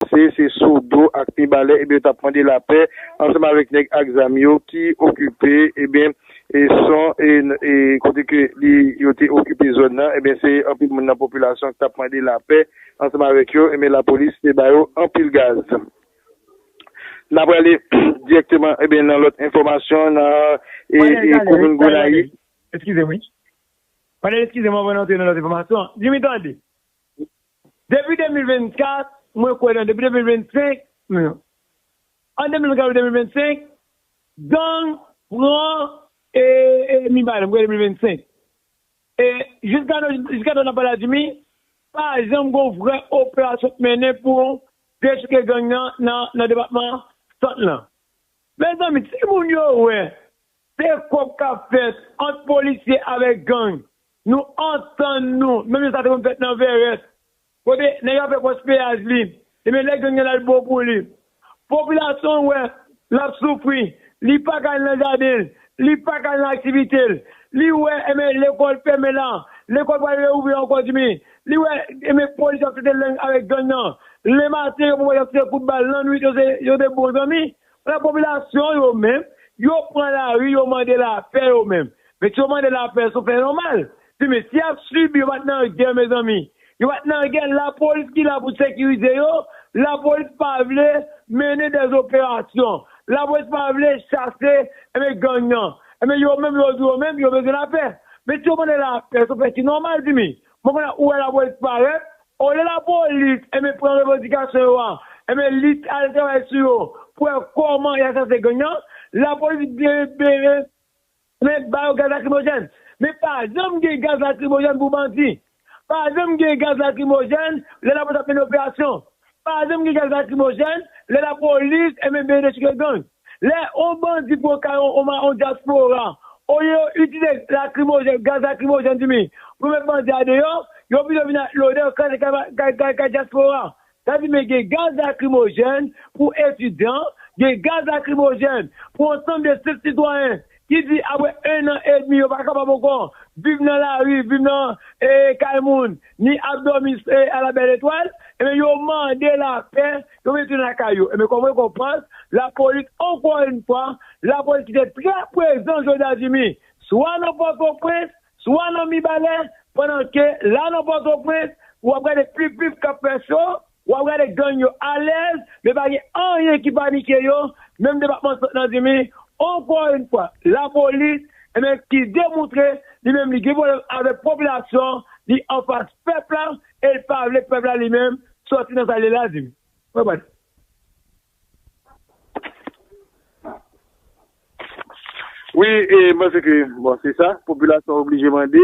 Se se Sodo ak Mibalè ebyen yo tap mande lapè ansanm avèk nèg ak zam yo ki okipe ebyen e son e e kote ke li yo te okipe zòn nan ebyen se anpil moun nan popilasyon ki tap mande lapè ansanm avèk yo ebyen lapolis te ba yo anpil gaz. Na prale dirèkteman ebyen nan lòt enfòmasyon nan e e komin Gonayiv. Eskize m wi. Pandan eskize m anvan n antre nan lòt enfòmasyon. Jimmy tande. Depi 2024, mwen kwè nan depi 2025, men an 2024 ou 2025, gang pran Mibalè, mwen kwè 2025. E jiska nou, jiska nou nan pale a Jimmy, pa janm gen yon vrè operasyon k mennen pou dechouke gang nan nan depatman Sant lan. Mezanmi, timoun yo wè se kòb k ap fèt ant polisye avèk gang Nou antann nou, menm jan sa te konn fèt nan Vèrèt, kote nèg ap fè pòs peyaj li, ebyen lè gang nan la li bon pou li. Popilasyon l wè l ap soufri, li pa ka al nan jaden l, li pa ka al nan aktivite l, li wè ebyen lekòl fèmen la, lekòl pral reouvri ankò dimi, li wè ebyen polis ap trete lang avèk gang nan, lematen yo poko ap se kout bal, lannwit yo se bon zanmi, Ala popilasyon yo menm, yo pran lari yo mande lapè yo menm. Mesye yo mande lapè sou fè yon mal. Ti mesye ap sibi yo pat nan gè mezanmi. Yo pat nan gè lapolis ki la pou sekirize yo, lapolis pa vle mennen dè operasyon, lapolis pa vle chase enben gang nan. Enben yo menm yo di yo menm yo bezwen lapè. Mesye yo mande lapè sou fè ki nòmal ti mi. Bon konya ou wè lapolis parèt, olye lapolis enben pran revandikasyon yo a, enben li al travay sou yo pou wè kòman y a chase gang nan, lapolis enben ba yo gaz lakrimojèn. Men pa janm gen gaz lakrimojèn pou bandi. Pa janm gen gaz lakrimojèn lè lapolis ap mennen operasyon. Pazanm gen gaz lakrimojèn, lè la polis enben BNH ki gen gang. Lè on bandi pran kay on on ma on dyaspora, olye yo itilize lakrimojèn, gaz lakrimojèn di mi, pou yo met bandi a deyò, yo pito vin ak lodè yo kraze kay kay kay dyaspora. Sa di men gen gaz lakrimojèn pou etidyan, gen gaz lakrimojèn pou ansanm de senp sitwayen ki di apre 1 an edmi yo pa kapab ankò viv nan lari, viv nan kay moun, ni ap dòmi ala bèl etwal, ebyen yo mande lapè, yo vle tounen lakay yo. Ebyen kòm rekonpans, lapolis ankò yn fwa, lapolis ki te trè prezan jodi a Jimmy, swa nan Pòtoprens, swa nan Mibalè, pandan ke la nan Pòtoprens, wap gade pipip kap fè cho, Wap gade gang yo alèz men pa gen anyen ki panike yo menm depatman sant nan dimi ankò yn fwa lapolis ebyen ki demoutre li menm li gen pwoblèm avèk popilasyon an li anfas pèp la el pavle pèp la li menm sòti nan sal ye la dimi mwen bat wi e mpanse ke bon se sa popilasyon oblije mande.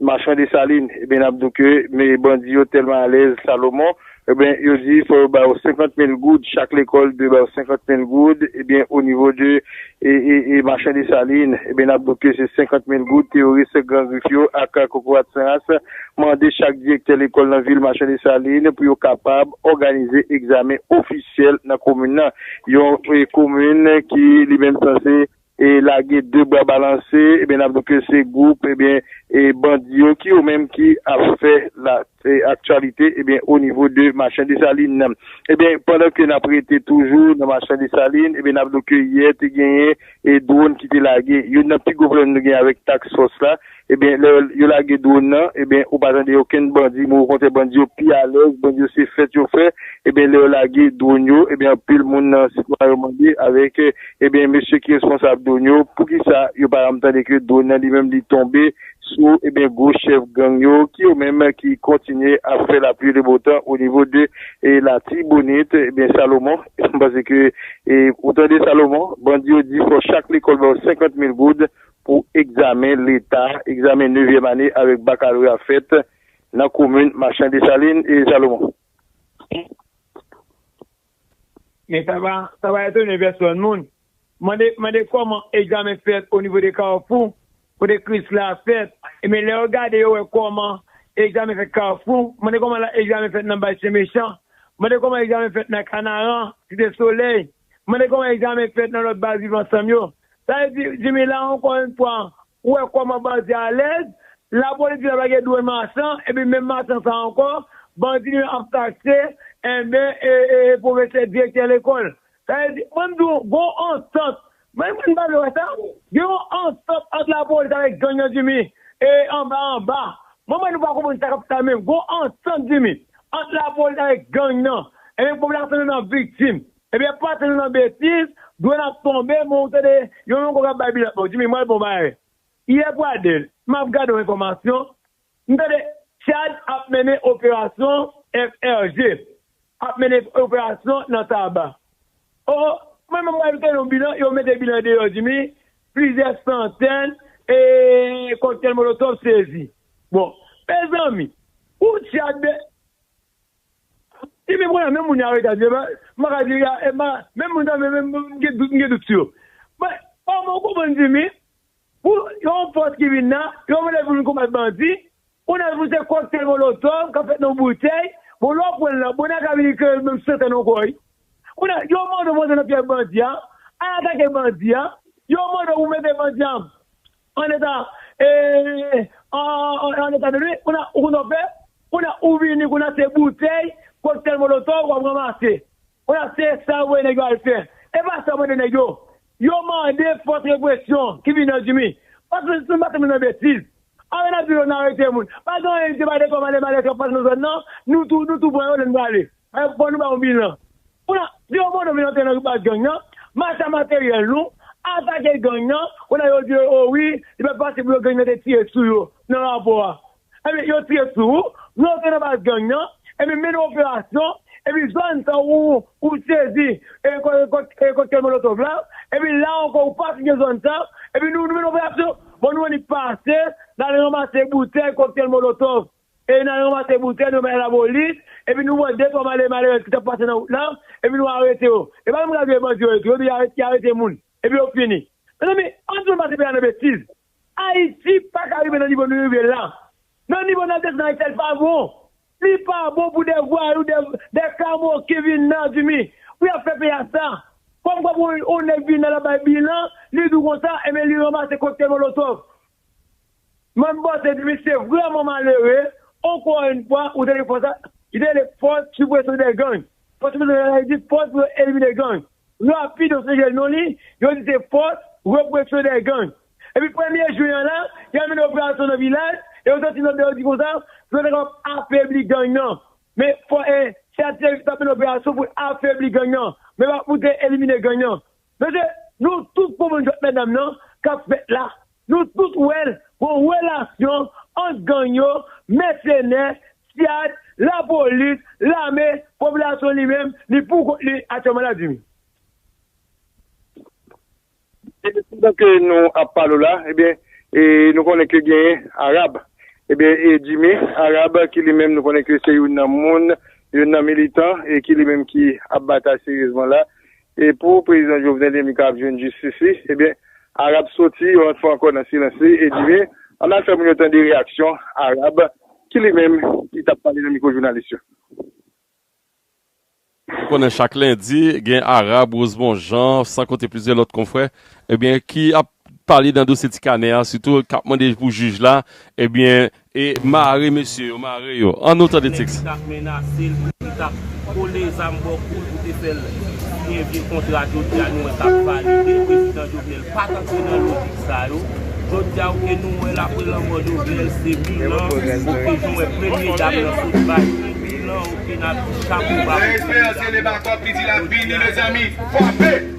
Machan Desalin, ebyen nap diw ke bandi yo tèlman alèz Salomon, ebyen yo di fò yo bayo 50 mil goud, chak lekòl dwe bayo 50 mil goud, ebyen o nivo de Machan Desalin, ebyen nap diw ke se 50 mil goud teyoris Gran Grif yo ak kokorat san ras mande chak direktè lekòl nan vil Machan Desalin pou yo kapab òganize egzamen ofisyèl nan komin nan, yon komin ki li menm sanse. e lage 2 bra balanse ebyen nap di ke se gwoup ebyen e bandi yo ki yo menm ki ap fè la aktyalite ebyen o nivo de machan Desalin ebyen pandan ke nap rete toujou nan machan Desalin ebyen nap di ke yè te genyen e dwon ki te lage youn nan pi gwo pwoblèm nou genyen avèk task fòs la Ebyen lè yo lage drone nan ebyen ou pa tande okenn bandi men okontrè bandi yo pi alèz bandi yo se fèt yo fè ebyen lè yo lage drone yo ebyen anpil moun nan sitwayen yo mande avèk ebyen mesye ki responsab drone yo poukisa yo pa janm tande ke drone nan li menm li tonbe sou ebyen gwo chèf gang yo ki yo menm ki kontinye ap fè la pluie le beau temps o nivo de latibonit ebyen Salomon m panse ke ou tande Salomon bandi yo di fò chak lekòl bayo 50 mil goud pou egzamen leta, egzamen nevyèm ane avèk bakaloreya fèt nan komin Machan Desalin e Salomon. Men sa pa sa pa etone pèsòn moun mande mande kòman egzamen fèt o nivo de Kafou kote kris la fèt e men lè yo gade yo wè kòman egzamen fèt Kafou mande kòman la egzamen fèt nan Bay Sen Mechan mande kòman egzamen fèt nan Kanaran Site Solèy Mande kòman egzamen fèt nan lòt baz Viv Ansanm yo. Sa vle di, Jimmy, la ankò yon fwa, ou wè kòman bandi alèz, lapolis di laplage dwe machan, epi menm machan sa ankò, bandi li menm ap taxe, enben, e, e, e pwofesè, direktè lekòl. Sa vle di, mwen m di ou, gon antant, mwen m pa vle wè sa, gen yon antant ant lapolis avèk gang nan Jimmy, e anba anba, mwen m wè nou pa konprann sa k ap fè a menm, gon antant Jimmy, Ant lapolis avèk gang nan, ebyen pèp la santi nou nan viktim, ebyen pa santi nou nan betiz, dwèn ap tonbe men ou tande yon longo kap bay bilat bon Jimmy mwen al pran yon bagay yè pradel map gade yon enfòmasyon m tande Tchad ap mennen operasyon FRG ap mennen operasyon nan Taba Oh mwen menm mwen fè yon bilan yo mete bilan deyò jimmy plizyè santèn e koktèl molotov sezi bon mezanmi ou tchad de jimmy m konnen menm moun yo arete a jimmy m pa ka di menm moun sa menm m gen dout sou yo bon ou konprann jimmy Pou yon fòs ki vin la, yo vle pou vin konbat bandi, on a pou se koktèl molotov kap fèt nan yon boutèy, bon lè w pran l la, bon nè a ka vin ekle l menm santan nan kò li. On a yo mande w pou antre nan fyèf bandi a, al atake bandi a, yo mande w pou mete bandi a an eta e an eta de nwi, on a ou konn sa w fè, on a ou vini konn a se boutèy, koktèl molotov wap ranmase. Konnya se sa yo voye nèg yo al fè. E pa sa yo mande nèg yo. Yo mande fòs represyon ki vin nan Jimmy. Paske nou tout masanble nan betiz. Alò nap di yo nan arete moun. Pa gen anyen se pa de kòm ale male kap pase nan zòn nan. Nou tou nou tou pran yo lè nou prale. Fò nou ba yon bilan. Konnya si yon mono vin antre nan baz gang nan. Mache materyèl nou. Atake gang nan. Konnya yo di yo o wi. Li pat fasil pou yo gang nan te tire sou yo nan rapò a. Ebyen yo tire sou ou, lè w te nan baz gang nan, ebyen mennen operasyon, epi zòn sa ou ou sezi koktèl molotov la, epi la ankò ou pa kite zòn sa, epi nou mennen operasyon, bon nou annik pase, n al ranmase boutèy koktèl molotov, e n al ranmase boutèy nou bay lapolis, epi nou pran de twa malere malerèz ki t ap pase nan wout la, epi nou arete yo. E pa menm radyo e bandi yo ye tou, epi y arete moun, epi yo fini. Mezanmi, an n sispann pase peyi a nan betiz. Ayiti paka rive nan nivo nou rive la. Nan nivo nap desann Ayiti a li pa bon. Li pa bon pou 2 vwayou, 2 kamoken vin nan Zimi pou yap fè peyi a sa. Kom kwa pou on nèg vin nan lap bay bilan, li dou konsa enben li ranmase koktèl molotov. Mwen panse Zimi se vreman malere, onkò yn fwa ou tande fòs la, li te rele fòs sipresyon dè gang. Fòs sipresyon dè gang la vle di fòs pou yo elimine gang. Rapid an sonje non li, yo di se fòs represyon dè gang. Epi premye jwen an la, y ap mennen operasyon nan vilaj, e yo soti nan bè yo di konsa, pou yo ta kapab afebli gang nan. Men fò e, se a Thierry ki t ap mennen operasyon pou l afebli gang nan, men pa pou l te elimine gang nan. Mesye, nou tout konprann jwèt mètdam nan k ap fèt la. Nou tout wè l gon relasyon ant gang yo, mèsenè, syad, lapolis, lame, popilasyon li menm li pou kont li aktyèlman la Jimmy. Ebyen pandan ke nou ap pale w la ebyen nou konnen ke genyen Arab ebyen Jimmy Arab ki li menm nou konnen ke se youn nan moun youn nan militan ki li menm ki ap batay seryezman la E pou prezidan Jovenel Emmy kab jwenn jistis li, ebyen Arab soti yon lòt fwa ankò nan silans li e di me ann al fè moun yo tande reyaksyon Arab ki li menm ki t ap pale nan mikwo jounalis yo. Ou konnen chak lendi gen Arab, Rosemond Jean, san konte plizyè lòt konfrè ebyen ki ap pale nan dosye ti kanè a sitou k ap mande pou jij la ebyen E mare mesye yo mare yo. An nou tande teks. Nèg tap menasel pou li tap kole zam bò koul pou te fèl siyen vye kontra jodia nou wè kap valide prezidan jovenel pat antre nan lojik sa yo jodia ok nou wèl apre lanmò jovenel se bilan ok nou wè premye dam nan sot bay yon bilan ok nap di chapo ba pou premye dam nan jodia.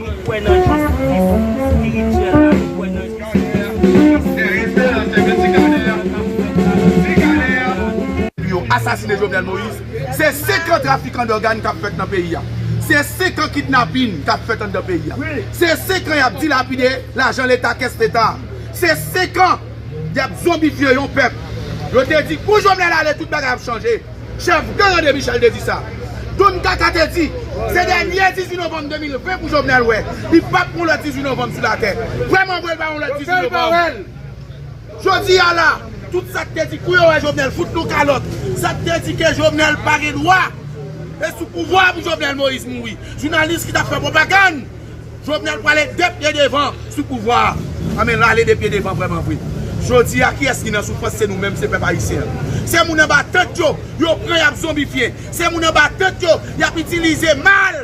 Nou kwè nan Jezi Kris espirityèlman, nou kwè nan Jezi Kris fizikman, nou kwè nan sa kap fèt la Pou yo asasine Jovenel Moïse Se 5 an trafikan dògan kap fèt nan peyi a Se 5 an kidnapin kap fèt anndan peyi a Se 5 an yap dilapide lajan leta kès leta a Se 5 an yap zonbifye yon pèp Yo te di kou Jovenel ale tout bagay ap chanje Chèf gang André Michel te di sa. Don Kaka te di, Se dènyè 18 novanm 2020 pou Jovenel wè. Li pap gen yon lòt 18 novanm sou latè. Vrèman vre, l pa yon lòt 18 novanm. Jodi a la, tout sa k te di kou yo wè Jovenel fout nou kalòt, sa k te di ke Jovenel pa gen dwa, e sou pouvwa a pou Jovenel Moïse mouri. Jounalis ki t ap fè pwopagann Jovenel prale 2 pye devan sou pouvwa a an men lale 2 pye devan vreman vre jodi a kiyes ki nan soufrans se nou menm se pèp ayisyen an se moun anba tant yo yo pran yap zonbifye se moun anba tant yo yap itilize mal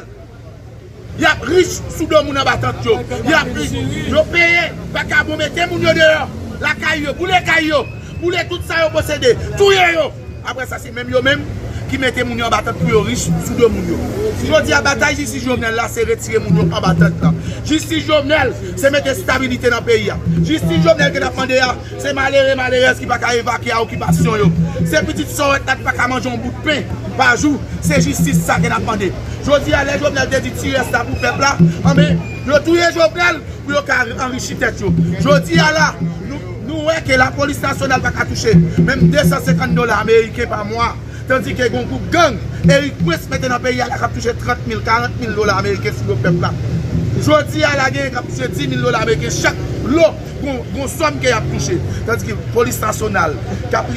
yap rich sou do moun anba tant yo yap rich yo peye vakabon mete moun yo deyò lakay yo boule kay yo boule tout sa yo posede touye yo. Aprè sa se menm yo menm ki mete moun yo anba tant pou yo rich sou do moun yo. Jodi a batay jistis Jovenel la se retire moun yo anba tant lan. Jistis Jovenel se mete stabilite nan peyi a. Jistis Jovenel ke nap mande a se malere malerèz ki paka evakye a okipasyon yo. Se pitit sòrèt la ki paka manje yon bout pen pa jou. Se jistis sa ke nap mande. Jodi a lè Jovenel te di ti rès la pou pèp la anben yo touye Jovenel pou yo ka anrichi tèt yo. Jodi a la nou. Nou wè ke lapolis nasyonal pa ka touche menm 250 dola ameriken pa mwa, tandike gon gwoup gang Erik Prince mete nan peyi a la k ap touche 30 mil, 40 mil dola ameriken sou do pèp la. Jodi a la genyen k ap touche 10 mil dola ameriken chak lo, gon sòm ke y ap touche, tandike polis nasyonal k ap.